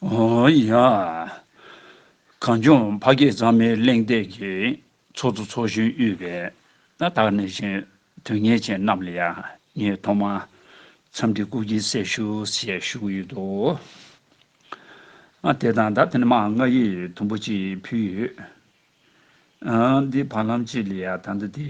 ཡ། གངས་ལྗོངས་ཕ་སྐད་གཙང་མའི་གླེང་སྟེགས་ཀྱི་ཚོགས་གཙོ་ཚོགས་གཞོན་དབུས་པའི་རྣ་ཐག་སྣེ་ཆེན་དོན་གཉེར་ཅན་རྣམས་ལ་ཡང་ངས་ཐོག་མར་འཚམས་འདྲི་སྐུ་བགྱི་གསལ་ཞུ་ཞེས་ཞུ་གི་ཡོད་དོ། དེ་དང་ད་ཐེངས་མའང་ང་ཡིས་དུམ་བུ་གཅིག་ཕུལ་ཡོད། འདི་བར་ལམ་གཅིག་ལ་ཡང་ད་ལྟ་དེ་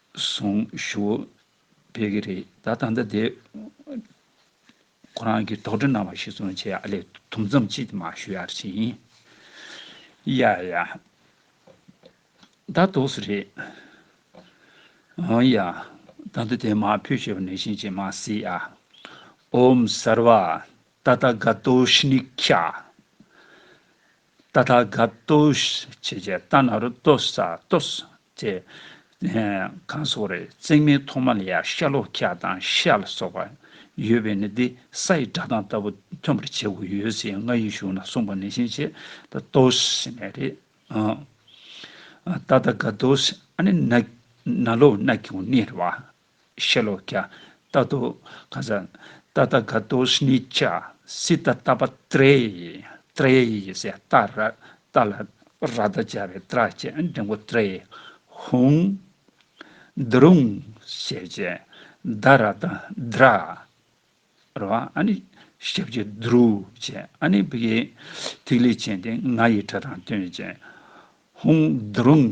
གཟུངས་བཞུགས་སྤེལ་གི་རེད་ད་ད་ལྟ་དེ། ཁོ་རང་གིས་དོགས་འདྲི་གནང་བ་ཞིག་སོང་ཆེ་ཨ་ལས་དུམ་ཙམ་ཅིག་དེ་མ་ཞུ་ཡར་བྱས་ཡིན། ཡ་ཡ། ད་དོགས་སུ་རེད། ཨོ་ཡ། ད་ལྟ་དེ་མ་ཕུལ་ཞེས་པ་ནས་བཞིན་བྱས་མ་སྲིད་ཨ། ཨོམ་སར་བ། ད་ད་ག་ཏོ་ཤི་ནི་ཁྱ། ཏཱ་ཐ་ག་ཏཱུ་ཞེས་བྱའི་ཏཱ་ན་རོ་ཏོ་ས་ཏོ་ས་དེ། གང་སོགས་རེད་བརྩེགས་མའི་ཐོག་མ་ལ་ཡང་ཤ་ལོ་ཀ་དང་ཤ་ལ་སོགས་པ་ཡོད་པས་ནི་འདི་ས་ཡི་སྒྲ་གདངས་ལྟ་བུ་ཐོན་པར་བྱེད་དགོས་ཡོད་ཟེར་ཡང་ང་ཡིས་གཞུང་ན་གསུངས་པ་ནས་བཞིན་བྱས་ཏཱ་ཏོ་ས་ཞེས་ནས་རེད། ཏཱ་ཐ་ག་ཏཱུ་ས་ཨ་ནི་ན་ལོ་ན་གིའོ་ནི་རེད་བ། ཤེ་ལོ་ཀྱ། ཏཱ་ཏོ། ཀ་ཟ། ཏ་ཏཱ་ག་ཏོ་ཤནི་ཅ། སི་ཏཱ་ཏཱ་པ་ཏྲེ། ཏྲེ་ཡི་ཡི་སེ་ཏཱ་ར། ཏཱ་ལ་ར་ཏཱ་ཅ་བའི་ཏྲ་བཅས་འབྲིང་པོ་ཏྲེ། ཧུང། འདི་རུང། ཞེས་བཅས། ཏཱ་ར་ཏཱ་དཱ་ར། ར་བ་ཨ་ནི། ཞེས་བཅས་ཏུ་རུ། བཅས་ཨ་ནི་བི་ཡའི། ཐིག་ལེ་ཅན་ཏེ་ང་ཡི་སྒྲ་དང་དོན་བཅས། ཧུང། འདི་རུང།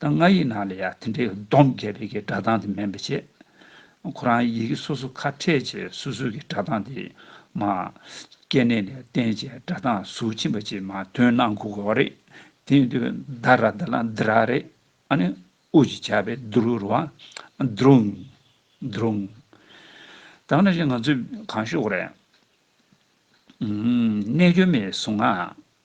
ད་ང་ཡི་ནང་ལ་ཡང་དེ་འདྲའི་སྡོམ་བརྒྱད་པའི་གི་སྒྲ་གདངས་དེ་མེད་པའི་ཕྱིར། ཁོ་རང་ཡི་གེ་སོ་སོ་ཁ་ཕྲལ་བྱེད་སོ་སོའི་གི་སྒྲ་གདངས་དེ་མ། སྐྱེ་གནས་ལས་བརྟེན་བྱའི་སྒྲ་གདངས་གཟུགས་ཕྱིན་པ་ཅིག་མ་དོན་སྣང་གོ་དགོས་པ་རེད། དེའི་དུས་བདག་ར་བདག་ལ་འདི་ར་རེད། ཨ་ནི་ཨུ་ཞེས་བྱ་བའི་འདི་རུ་རུ་བ། འདྲུང། འདྲུང། ད་ང་ཞིག་ང་ཚོས་གང་ཤོད་གོ་རེད། རྣལ་འབྱོར་མའི་གཟུངས་སྔགས།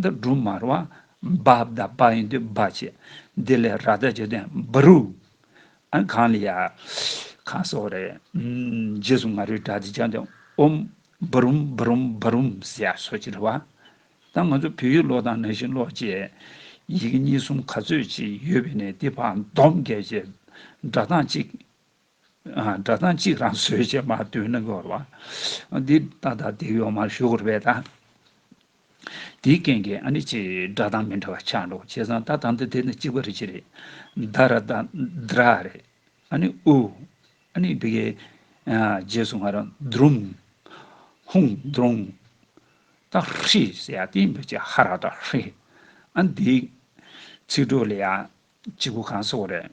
འདི་སྦྲུམ་དམར་བ་འབའ་བདའ་འབའ་ཡིན་དུས་འབའ་བྱེད། འདི་ལས་ར་བདའ་བྱེད་དུས་འབའ་རུ། ཨ་གང་ལ་ཡ། གང་སོགས་རེད། རྗེས་སུ་ང་རོའི་སྒྲ་འདི་སྦྱངས་དུས་ཨོམ། འབའ་རུམ་འབའ་རུམ་འབའ་རུམ་ཟེར་ཡ་སོགས་ཀྱི་རེ་བ། ད་ང་ཚོ་བོད་ཡིག་ཀློག་དང་ནང་བཞིན་ཀློག་བཅས། ཡི་གེ་གཉིས་གསུམ་ག་ཚོད་ཅིག་ཡོད་པའི་ནས་དེ་བར་འདོམས་བརྒྱབ་རྗེས་སྒྲ་གདངས་གཅིག། སྒྲ་གདངས་གཅིག་རང་བཟོས་བྱས་མ་བཏོན་ན་འགོར་བ། འདི་ལྟ་སྟ་སྟེ་ཡོག་མར་ཞུགས་འགོར་བས་དང། དེའི་རྐྱེན་གྱིས་ཨ་ནི་ཅི་སྒྲ་གདངས་མི་འདྲ་བ་ཆགས་འགྲོ་བྱས་ཙང་ད་དང་འདི་དེ་ནི་གཅིག་པ་རེད་ཅི་རེད། ད་ར་ད་དར་ཨ་རེད། ཨ་ནི་ཨུ། ཨ་ནི་བི་གའི། རྗེས་སུ་ང་ར་དུརུམ། ཧུང་དུརུང། ད་ཧྲི་ཟེར་ཡ་དེ་འདུག་ཅེས་ཧ་ར་ད་ཧྲི། ཨ་འདི། ཚིག་གྲོགས་ལས་ཡ་གཅིག་པོ་གང་སོགས་རེད།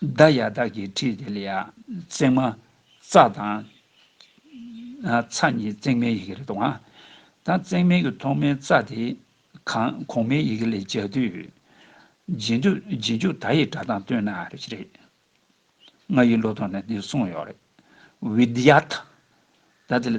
བདག་ཡང་བདག་གིས་ཁྲིད་དེ་ལ་ཡང་བརྩེགས་མ། རྩ་དང། ཚ་གཉིས་བརྩེགས་མའི་ཡི་གེ་རེད་དང། ད་བརྩེགས་མའི་གི་ཐོག་མའི་རྩ་དེ། གོང་མའི་ཡི་གེ་ལས་སྦྱར་དུས། རྗེས་འཇུག་རྗེས་འཇུག་ད་ཡི་སྒྲ་དང་བསྟུན་ན་རེ་ཞིག་རེད། ང་ཡི་བློ་ཐོག་ནས་འདི་གསུངས་ཡོད་རེད། བི་དྷི་ཡ་ཐ། ད་དེ་ལ།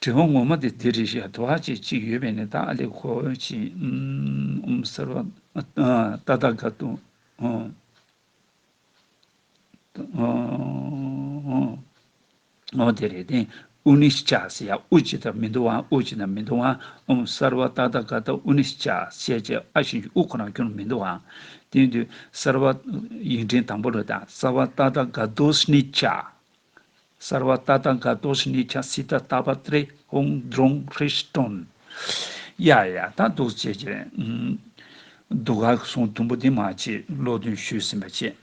དྲི་བ་ངོ་མ་དེ་དེ་རེད་ཤག་དོ་ཨ་ཅེ་ཅིག་ཡོད་པས་ནི་ད་ཨ་ལེ་ཁོ་ཅི་འམ་ཟེར་བ་ད་ད་ག་ཏུའོ་དེ་རེད་དེ་ཨུ་ནི་ཤག་ཟེར་ཡ་ཨུ་ཅི་ད་མི་འདུག་ཨ་ཨུ་ཅི་ད་མི་འདུག་ཨ་འམ་ཟེར་བ་ད་ད་ག་ཏུའོ་ནི་ཤག་བཤད་ཅེ་ཨ་བཞིན་གྱི་ཨུ་ཁོ་རང་ཁྱོད་མི་འདུག་ཨ་དེ་དུས་ཟེར་བ་ཡིག་འབྲི་དང་པོ་རེད་ད་ཟེར་བ་ད་ད་ག་ཏུའོ་ནི་ཤག། གསར་བ་ལྟ་སྟངས་དགའ་མདོག་ཞིག་ནས་ཀྱང་སྲིད་ད་ད་པ་ཏྲེ་ཧོང་རྫོང་ཧྲི་སྟོན། ཡ་ཡ་ད་འདུག་བྱས་བྱས། འདུག་ག་གི་སོང་དུམ་བུ་དེ་མ་བྱེད་ཀློག་འདོན་ཞུས་ཟིན་པ་བྱས།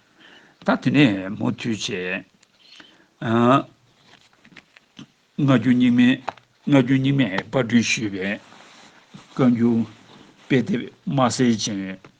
ད་དེ་ནས་མུ་མཐུད་བྱས། སྔ་རྒྱུན་རྙིང་མའི་སྔ་རྒྱུན་རྙིང་མའི་པར་སྐྲུན་ཞུས་པའི་བཀའ་འགྱུར་དཔེ་དེབ་དམར་སེར་ཅན་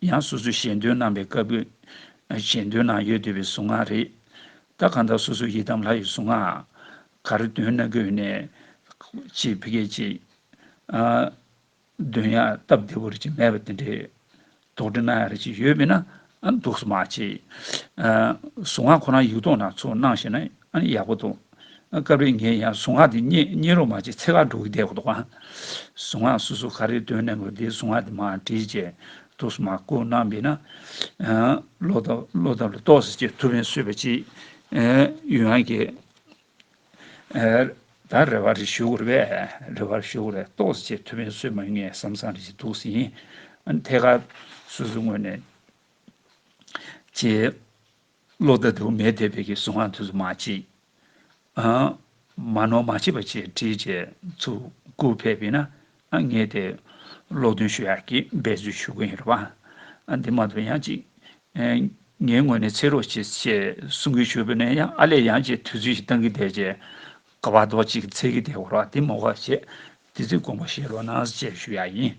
ཡང་སོ་སོའི་ཞེ་འདོད་སྣང་བའི་དཀར་པོའི། ཞེ་འདོད་ནང་ཡོད་འདོད་པའི་གཟུངས་སྔགས་རེད། ད་གང་དག་སོ་སོའི་ཡི་དམ་ལྷ་ཡི་གཟུངས་སྔགས། ག་རེ་འདོན་ན་དགོས་ནས། ཅེས་བི་གས་ཅིག། འདོན་ཡང་སྟབས་བདེ་བོ་རེ་ཅིག་མེད་པ་དེ་འདྲའི། དོགས་འདྲི་གནང་ཡ་རེ་ཅིག་ཡོད་མེད་ན། འདུག་སོ་མ་ཅེས། གཟུངས་སྔགས་ཁོ་རང་ཡིག་ཐོག་ན་ཚུར་གནང་ཞེ་ན། ཨ་ཡག་པོ་འདུག། སྐབས་རེ་ངས་ཡང་གཟུངས་སྔགས་འདི་རྙེད་རྙེད་རུང་མ་བྱས་ཚེ་ཁ་འགྲོ་གི་བསྡད་འདུག། གཟུངས་སྔགས་སུ་སུ་ག་རེ་འདོན་ནས་འགོད་འདིའི་གཟུངས་སྔགས་འདི་མ་བྲིས་ཅེས་ཐུགས་སུ་མ་བསྐུར་གནང་བས་ན། བློ་དང་བློ་དམ་ལ་གཏོགས་ཟེར་ཅེས་ཐུ་བྷན་བསོད་པ་སྐྱིད། ཡུལ་ཡང་གི། ད་རེ་བ་རེ་ཞུ་དགོས་རེ་བས་རེ་བ་རེ་ཞུ་དགོས་རེ་གཏོགས་ཟེར་ཅེས་ཐུ་བྷན་བསོད་མ་ངས་བསམ་བསམ་རེ་བྱེད་འདུག་ཟིན། ཐད་ཀར་སོ་སོའི་ངོས་ནས། ཅེས། བློ་དང་དུ་མའི་དད་པས་ཀྱི་གཟུངས་སྔགས་དུས་སུ་མ་བྱེད། མ་ནོར་མ་བྱེད་པ་བཅས་བྲིས་བཅས་ཚུར་བསྐུར་ཕེབས་པས་ན་ངེད་དེ་ཀློག་འདོན་ཞུ་ཡག་གིས་འབད་བརྩོན་ཞུ་གི་ཡིན་རོགས་པ། འདི་མ་ཐུབ་ཡང་ཅིག་ངའི་ངོས་ནས་འཚལ་རོགས་བྱེད་ཅེས་གསུང་གིན་ཞུ་བས་ན་ཡང་ཨ་ལས་ཡང་ཅིག་དུས་ཚོད་ཞིག་གཏང་གིན་བསྡད་ཅེས་ཀ་བ་རྡོག་གཅིག་གིས་འཚལ་གིན་བསྡད་འོ་རོགས་ཨ་དེ་མ་འོ་ཞེས་དུས་ཚོད་དགོངས་པ་བཞེས་རོགས་གནང་ཅེས་ཞུ་ཡག་ཡིན།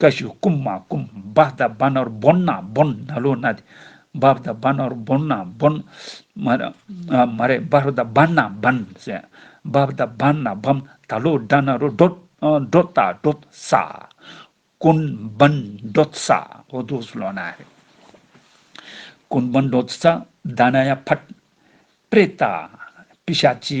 ཀ་ཤུ་ཀུམ་མ་ཀུམ་བཱ་དཱ་བཱ་ནོར་བོན་ན་བོན་ན་ལོ་ན་དེ། བཱ་དཱ་བཱ་ནོར་བོན་ན་བོན། མ་རེ། མ་རེ་བཱ་རོ་དཱ་བཱན་ན་བཱན་སེ། བཱ་དཱ་བཱན་ན་བཱམ་དཱ་ལོ་དཱ་ན་རོ་སྒྲོད། སྒྲོད་དཱ་སྒྲོད་ས། ཀུན་བཱན་སྒྲོད་ས་ཨོ་དོ་སུ་ལོ་ན་རེ། ཀུན་བཱན་སྒྲོད་ས་དཱ་ན་ཡ་བྷད། པྲེ་ཏཱ། པི་ཤ་ཅི།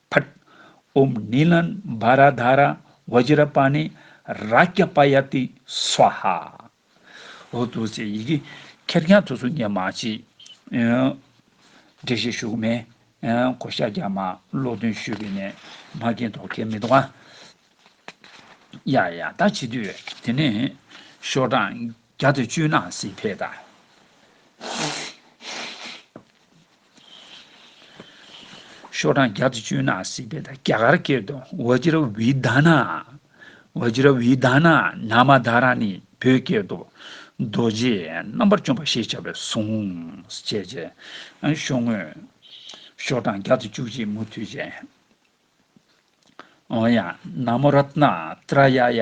ཕཱཏ྄། ཨུམ་ནི་ལན་བཱ་ར་དྷ་ར་བཱི་ཇི་ར་པཱ་ནི་རཱ་ཀྱ་པཱ་ཡ་ཏི་སཝཱ་ཧ། འོ་དོ་ཅེས་ཡི་གེ་ཁེར་རྐྱང་དུ་སུ་ཉན་མ་མཆིས། འགྲེལ་བཤད་ཞུ་གི་མེད། གོ་ཤ་རྒྱ་མ་ཀློག་འདོན་ཞུས་པའི་ནས་མ་རྒན་དོག་ཁྱེར་མི་འདུག་ཨ། ཡ་ཡ་ད་བྱེད་དུས་དེ་ནས་ཤོག་གྲངས་བརྒྱ་དང་བཅུ་ནང་སྲིད་འཕེལ་ད། ཤོག་གྲངས་བརྒྱ་དང་བཅུ་ན་སྲིད་པའི་དང་རྒྱ་གར་སྐད་དུ་ཝཱ་ཇི་ར་བྷི་དཱ་ན། Vajra Vidhana། ནཱ་མ་དཱ་ར་ནི་བོད་སྐད་དུ་རྡོ་རྗེ་རྣམ་པར་བཅོམ་པ་ཞེས་བྱ་བའི་གཟུངས། ཅེས་བྱའི། ཤོག་ངོས། ཤོག་གྲངས་བརྒྱ་དང་བཅུ་གཅིག་མུ་མཐུད་ཅན། ཨོ་ཡ། ན་མོ་རཏྣ་ཏྲ་ཡ་ཡ།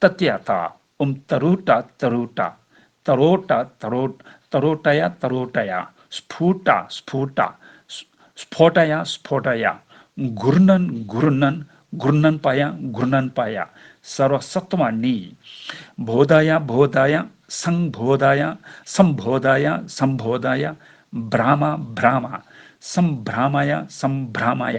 ཏཱ་ཏཱ་ཡ་ཏཱ་འུམ་ཏཱ་རུ་ཏཱ་ཏཱ་རུ་ཏཱ་ཏཱ་རོ་ཏཱ་ཏཱ་རོ་ཏཱ་རོ་ཏཱ་ཡ་ཏཱ་རོ་ཏཱ་ཡ་སི་ཕུ་ཏཱ་སི་ཕུ་ཏཱ་སི་ཕོ་ཏཱ་ཡ་སི་ཕོ་ཏཱ་ཡ་མགུར་སྣོན་མགུར་སྣོན་མགུར་སྣོན་པ་ཡ་མགུར་སྣོན་པ་ཡ་ས་རོ་ས་ཏོ་མ་ནི་བོ་ད་ཡ་བོ་ད་ཡ་སང་བོ་ད་ཡ་སམ་བོ་ད་ཡ་སམ་བོ་ད་ཡ་བྷ་ར་མ་བྷ་ར་མ་སམ་བྷ་ར་མ་ཡ་སམ་བྷ་ར་མ་ཡ།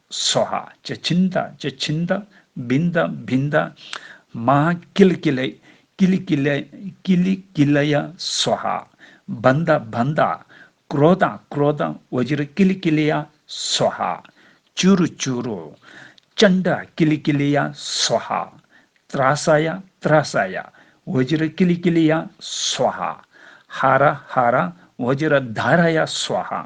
སོ་ཧ། ཅི་ཆིན་ཏཱ། ཅི་ཆིན་ཏཱ། བིན་ཏཱ། བིན་ཏཱ། མ་ཧ། ཀི་ལི་ཀི་ལའི། ཀི་ལི་ཀི་ལའི། ཀི་ལི་ཀི་ལ་ཡ། སོ་ཧ། བན་ཏཱ། བན་ཏཱ། ཀྲོ་ཏཱ། ཀྲོ་ཏཱ། ཝི་ཇི་རི་ཀི་ལི་ཀི་ལི་ཡ། སོ་ཧ། ཅུ་རུ་ཅུ་རུ། ཅན་ཏཱ། ཀི་ལི་ཀི་ལི་ཡ། སོ་ཧ། ཏྲ་ས་ཡ། ཏྲ་ས་ཡ། ཝི་ཇི་རི་ཀི་ལི་ཀི་ལི་ཡ། སོ་ཧ། ཧ་ར་ཧ་ར། ཝི་ཇི་རི་དཱ་ར་ཡ། སོ་ཧ།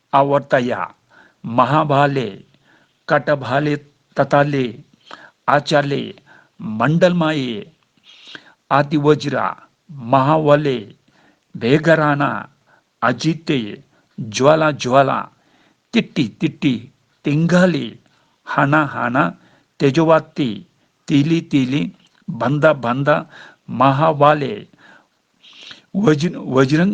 ཨ་བར་ཏ་ཡ། མ་ཧཱ་བྷ་ལེ། ཀ་ཏ་བྷ་ལེ། ཏ་ཏཱ་ལེ། ཨ་ཅཱ་ལེ། མནྡལ་མ་ཡེ། ཨ་ཏི་བ་ཇི་ར། མ་ཧཱ་བྷ་ལེ། བྷེ་ག་ར་ན། ཨ་ཇི་ཏེ། ཇཱ་ལ་ཇཱ་ལ། ཏི་ཏི་ཏི་ཏི། ཏི་མག་ལི། ཧ་ན་ཧ་ན། ཏེ་ཇོ་བ་ཏི། ཏི་ལི་ཏི་ལི། བྷནྡ་བྷནྡ། མ་ཧཱ་བྷ་ལེ། བཱ་ཇི་རང།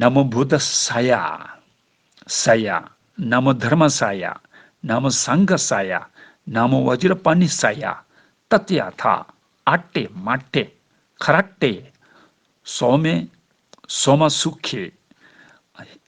ན་མོ་བུད་དྷ་ས་ཡ། ས་ཡ། ན་མོ་དྷར་མ་ས་ཡ། ན་མོ་སངྒ་ཧ་ས་ཡ། ན་མོ་བ་ཇིར་པ་ནི་ས་ཡ། ཏཏ་ཡ་ཐ། ཨ་ཏེ་མ་ཏེ། ཁ་ར་ཏེ། སོ་མེ། སོ་མ་སུ་ཁེ།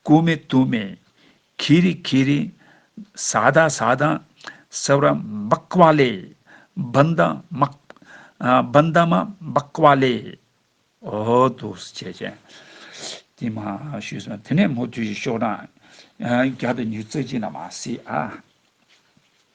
སྐུ་མེད་གཏུམ་མེད་གྷི་རི་གྷི་རི། ས་དང་ས་དང་ས་བར་སྦགས་པ་ལས། སྦིན་དང་སྨག། སྦིན་དང་སྨག་སྦགས་པ་ལས། འོ་དུ་བྱས་བྱས། དེ་མ་ཞུས་སོང། དེ་ནས་མོ་དུས་ཀྱི་ཤོག་གྲངས། བརྒྱ་དང་ཉུལ་རྩ་གཅིག་ན་མ་སྲིད་ཨ།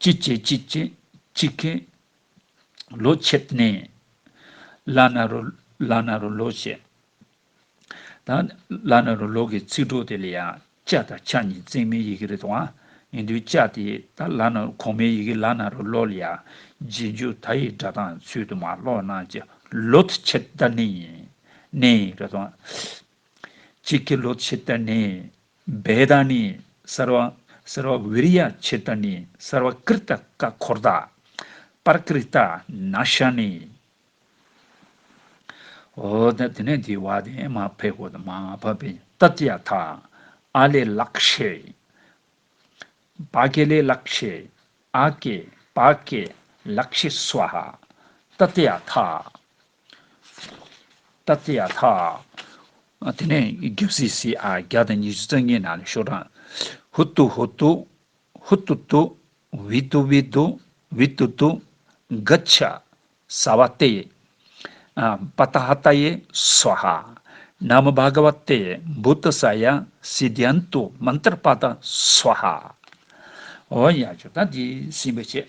ཅི་བྱེད་ཅི་བྱེད་ཅི་ཁེ། ལོ་ཕྱེད་གནས། བླ་ན་རུ་བླ་ན་རུ་ལོ་བྱས། ད་བླ་ན་རུ་ལོ་གི་ཚིག་གྲོགས་དེ་ལ་ཡང་ཅཱ་དང་ཆ་གཉིས་བརྩེགས་མའི་ཡི་གེ་རེ་དང། ཡིན་དུས་ཅཱ་དེ་ད་བླ་ན་རུ་གོང་མའི་ཡི་གེ་བླ་ན་རུ་ལོ་ལ་ཡང་རྗེས་འཇུག་ད་ཡི་སྒྲ་གདངས་ཚུལ་དུ་མ་ཀློག་ན་ཅི། ལོ་ཕྱེད་ད་གནས། གནས། རེ་དང། ཅི་ཁེ་ལོ་ཕྱེད་ད་གནས། སྦས་དང་ནི་སར་བ། སར་བ་བི་རི་ཡ་ཆེ་དང་ནི་སར་བ་ཀིར་ཏ་ཀ་འཁོར་དག། པར་ཀི་རི་ཏ་ན་ཤ་ནི། འོ་དེ་ནས་དེ་བ་དེ་མ་ཕེ་གོ་དང་མ་ཕ་པི་ཏ་ཏི་ཡ་ཐ། ཨ་ལེ་ལག་ཤེ། པ་ཀེ་ལེ་ལག་ཤེ། ཨ་ཀེ། པ་ཀེ། ལག་ཤེ་སུ་ཧ། ཏ་ཏི་ཡ་ཐ། སྟབས་བདེ་ཡག་ཐག། དེ་ནས་རྒྱབ་སིག་སིག་ཨ་བརྒྱ་དང་ཉི་ཤུ་རྩ་གཉིས་ནང་ནས་ཤོག་གྲངས། ཧུད་ཏུ་ཧུད་ཏུ། ཧུད་ཏུ་ཏུ། བིད་ཏུ་བིད་ཏུ། བིད་ཏུ་ཏུ། འག་ཆ། སྭ་བ་ཏེ། པ་ཏ་ཧ་ཏ་ཡེ། སྭོ་ཧ། ན་མོ་བྷ་ག་བ་ཏེ། བུད་ཏུ་སྭ་ཡ། སི་དྷཱན་ཏུ། མན་ཏར་པ་ཏ། སྭོ་ཧ། འོ་ཡག་བྱུང་ད་འདི་སིམ་པ་བྱེད།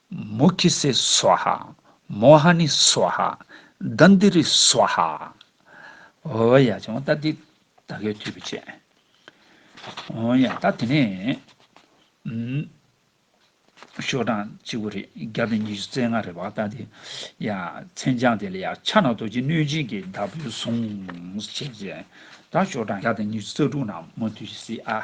མུ་ཁྱི་སེ་སཝཱ་ཧཱ། མོ་ཧ་ནི་སཝཱ་ཧཱ། རྡ་འདི་རི་སཝཱ་ཧཱ། འོ་ཡ་བྱུང་ད་འདི་ད་གའི་དུས་བུ་ཆེ། འོ་ཡ་ད་དེ་ནས། ཤོག་གྲངས་གཅིག་བུ་རེ་བརྒྱ་དང་ཉི་ཤུ་རྩེ་ལྔ་རེ་བ་ད་འདི། ཡ། མཚན་བྱང་དེ་ལ་ཡ་ཕྱག་ན་རྡོ་རྗེ་གནོད་སྦྱིན་གྱི་བདག་པོའི་གཟུངས། ཅེས་བྱས། ད་ཤོག་གྲངས་བརྒྱ་དང་ཉི་ཤུ་རྩ་དྲུག་ན་མོ་དུས་བཞི་སྲིད་ཨ།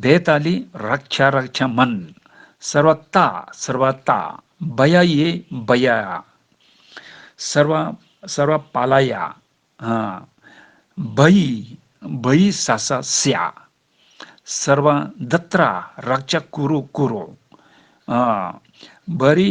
བའི་ཏཱ་ལི་རག་ཁྱ་རག་ཁྱ་མན། སར་བ་ཏཱ་སར་བ་ཏཱ། བ་ཡ་ཡེ་བ་ཡ་ཡ། སར་བ་སར་བ་པ་ལ་ཡ། བ་ཡི་བ་ཡི་ས་ས་སྱ། སར་བ་འདི་ཏྲ་རག་ཅ་ཀུ་རུ་ཀུ་རུ། བ་རི།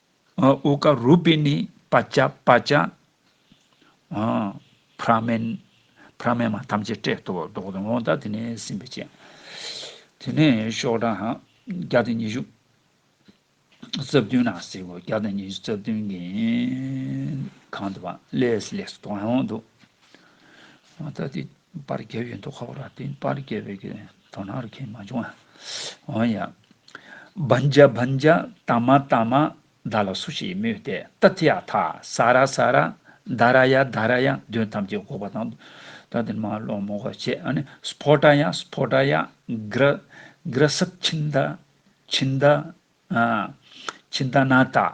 ཨུ་ཀ་རུ་པི་ནི་པ་ཅ་པ་ཅ། བྷ་ར་མན། བྷ་ར་མན་མ་ཐམས་ཅད་སྤྲད་དོ། བཟློག་དང་ལོང་དང་དེ་ནས་ཟིན་པའི་སྤྱན། དེ་ནས་ཤོག་གྲངས་བརྒྱ་དང་ཉི་ཤུ། རྩ་བདུན་ལ་གསེར་སྐུ་བརྒྱ་དང་ཉི་ཤུ་རྩ་བདུན་གྱི། གང་དུ་བ་ལས་ལས་སུ་དོང་ཡང་དུ། མ་ད་དེ་པར་རྒྱལ་བའི་འདུ་ཁ་བ་ར་ཏི་པར་རྒྱལ་བའི་གི། དོ་ནག་རུ་ཁྱེད་མ་བྱུང་ཨ། འོན་ཡང། བན་རྒྱ་བན་རྒྱ་དང་མ་དང་མ། བདག་ལ་སུ་ཞིག་སྨོས་ཏེ་ཏི་ཏི་ཡ་ཐ་ས་ར་ས་ར། དཱ་ར་ཡ་དཱ་ར་ཡ་དོན་ཐམས་ཅད་འགོག་པ་དང། ད་དེ་ནི་མ་ལོངས་མོ་ཧོ་ཆེ་ཨ་ནི་སི་བྷོ་ཏྲ་ཡ་སི་བྷོ་ཏྲ་ཡ། གི་ར་གི་ར་སི་ཁྱིན་དཱ་ཁྱིན་དཱ། ཨ་ཁྱིན་དཱ་ན་ཏཱ།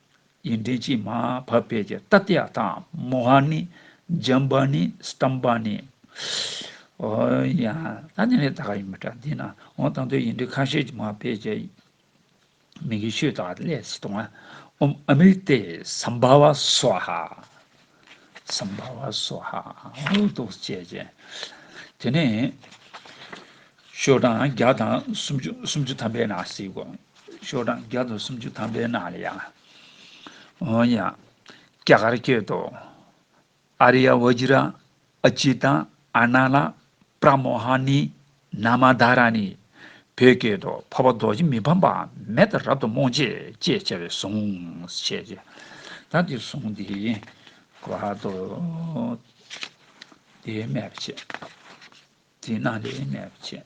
ཡིན། འདྲེན་བྱེད་མ་བབས་པས་ཀྱི་ཏཱ་ཏི་ཡ་དང་མོ་ཧ་ནི། ཇམ་བ་ནི། སྟམ་བ་ནི། ཨོ་ཡ། ད་ནི་ལས་ད་ག་ཡིན་པ་འདྲ་འདི་ན་འོང་དང་དོད་ཡིན་འདྲེ་ཁ་ཤས་ཀྱི་མ་བས་ཀྱི། མི་གི་ཤོས་དག་ལས་སི་ཏོང་ཨ། ཨོམ་ཨ་མིལ་ཏེ་སམ་བ་བ་སོ་ཧ། སམ་བྷ་བ་སོ་ཧ་ཨའོ་རྡོ་བཅས་ཅན། དེ་ནས་ཤོ་གྲངས་བརྒྱ་དང་སུམ་ཅུ་སུམ་ཅུ་ཐམ་པའི་ནང་གཟིགས་གོ། ཤོ་གྲངས་བརྒྱ་དང་སུམ་ཅུ་ཐམ་པའི་ནང་ལ་ཡང། འོན་ཡང། སྐྱ་གར་སྐྱེད་དོ། ཨ་རི་ཡ་བཱ་ཇི་ར། ཨ་ཅི་དང་ཨ་ན་ལ་པྲ་མོ་ཧ་ནི་ན་མ་དྷ་ར་ནི་བོད་སྐད་དུ་འཕགས་པ་རྡོ་རྗེ་མི་ཕམ་པའམ་མེ་ལྟར་རབ་ཏུ་རྨོངས་བྱེད་ཅེས་བྱ་བའི་གཟུངས་བྱས་ཏེ། ད་འདིར་གཟུངས་འདིའི་བར་དུ་དེའི་སྨྲས་པ་བྱེད། དེས་ན་དེའི་སྨྲས་པ་བྱེད།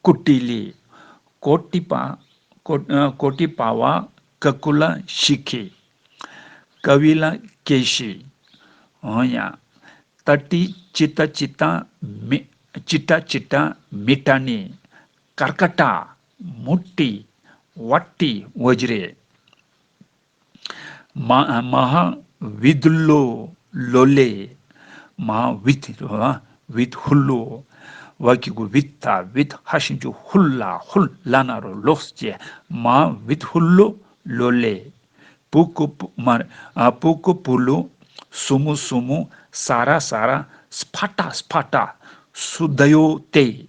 བཀུར་སྟི་ལི། གོ་ཏི་པ། གོ་ཏི་པ་བ། ཀ་ཀུ་ལ་ཤི་ཁི། ཀ་བི་ལ་ཀེ་ཤི། ཧོན་ཡ། ཏ་ཏི་ཅི་ཏྲ་ཅི་ཏྲ་མི། ཅི་ཏྲ་ཅི་ཏྲ་མི་ཏྲ་ནི། ཀར་ཀ་ཏ། མུ་ཏི། བ་ཏི་བོ་ཇི་རེ། མཧཱ་བྷི་དྷུ་ལོ་ལོ་ལས། མཧཱ་བྷི་དྷི་དྷུ་ལ་བྷི་དྷུ་ལོ། བ་ཀི་གུ་བྷི་ད་བྷི་དྷ་ཤིན་ཅུ་ཧུ་ལ་ཧུ་ལ་ན་རོ་ལོགས་སུ་བཅད། མཧཱ་བྷི་དྷུ་ལོ་ལོ་ལས། པུ་ཀུ་པུ་ཀུ་པུ་ལུ། སུ་མུ་སུ་མུ། སཱ་ར་སཱ་ར། སྤྷ་ཏྲ་སྤྷ་ཏྲ། སུ་དྷ་ཡོ་སྟེ།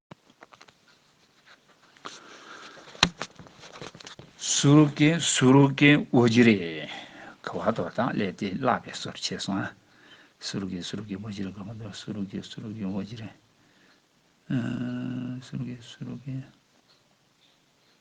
སུ་རུ་ཀའི་སུ་རུ་ཀའི་བོ་ཇི་རེ་ག་བ་དོ་དང་ལས་དེ་བརླག་པའི་སོར་ཕྱེས་སོང་ང། སུ་རུ་ཀའི་སུ་རུ་ཀའི་བོ་ཇི་རེ་ག་བ་དོ་སུ་རུ་ཀའི་སུ་རུ་ཀའི་བོ་ཇི་རེ། སུ་རུ་ཀའི་སུ་རུ་ཀའི།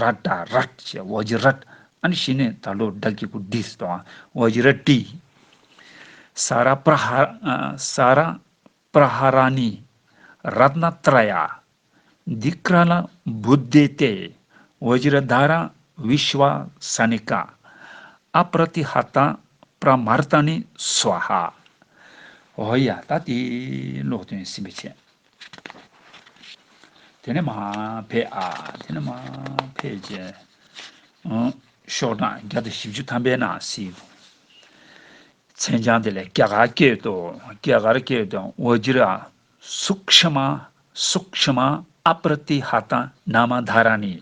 རཀྟ་རཀ་ཅེས་བཱ་ཇི་རཀ་ཨཱནྟི་ཞེས་ནི་ད་ལོར་བདག་གི་བུ་དཱི་སྟོང་བ་བཱ་ཇི་ར་ཏི། ས་ར་པྲ་ཧ་ས་ར་པྲ་ཧ་ར་ནི་རཏྣ་ཏྲ་ཡ། འདི་ཀྲ་ལ་བུ་དཱི་སྟེ་བཱ་ཇི་ར་དཱ་ར་བི་ཤི་བ་ས་ནི་ཀ། ཨ་པྲ་ཏི་ཧ་ཏ་པྲ་མ་རཏ་ནི་སུ་བ་ཧ། ཧོ་ཡ་ད་ཏི་ལོག་དོན་སིམ་པའི་ཆེད། དེ་ནི་མ་བྷེ་ཨ། དེ་ནི་མ་བྷེ་ཅེ། ཤོག་གྲངས་བརྒྱ་དང་བཞི་བཅུ་ཐམ་པའི་ནང་གཟིགས། མཚན་བྱང་དེ་ལས་སྐྱ་གར་སྐད་དུ། སྐྱ་གར་སྐད་དུ་ཝཱ་ཇི་ར། སུག་ཤི་མ། སུག་ཤི་མ་ཨ་པར་ཏི་ཧ་ཏཱ་ན་མ་དྷ་ར་ནི།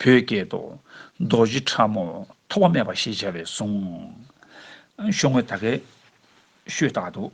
བོད་སྐད་དུ། རྡོ་རྗེ་ཕྲ་མོ་ཐོགས་པ་མེད་པ་ཞེས་བྱ་བའི་གཟུངས། ཤོག་ངོས་དག་གིས་ཤོད་བཏགས་འདུག།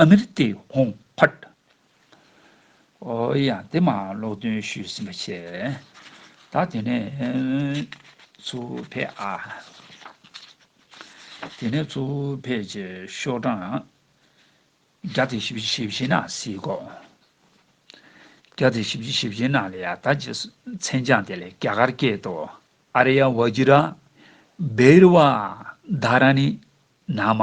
ཨ་མི་རི་ཀའི་ཧོང་ཕར། ཨོ་ཡང་དེ་མ་ཀློག་འདོན་ཞུས་ཟིན་པ་ཆེ། ད་དེ་ནས་ཚུ་བྷེ་ཨ། དེ་ནས་ཚུ་བྷེ་ཆེ་ཤོག་གྲངས། བརྒྱ་དང་བཞི་བཅུ་ཞེ་བཞི་ན་སིའི་གོ། བརྒྱ་དང་བཞི་བཅུ་ཞེ་བཞི་ན་ལ་ཡ་ད་ཅི་མཚན་བྱང་དེ་ལས་རྒྱ་གར་སྐད་དུ་ཨ་ར་ཡ་བ་ཇི་ར། བེ་རི་བ་དྷ་ར་ནི་ན་མ།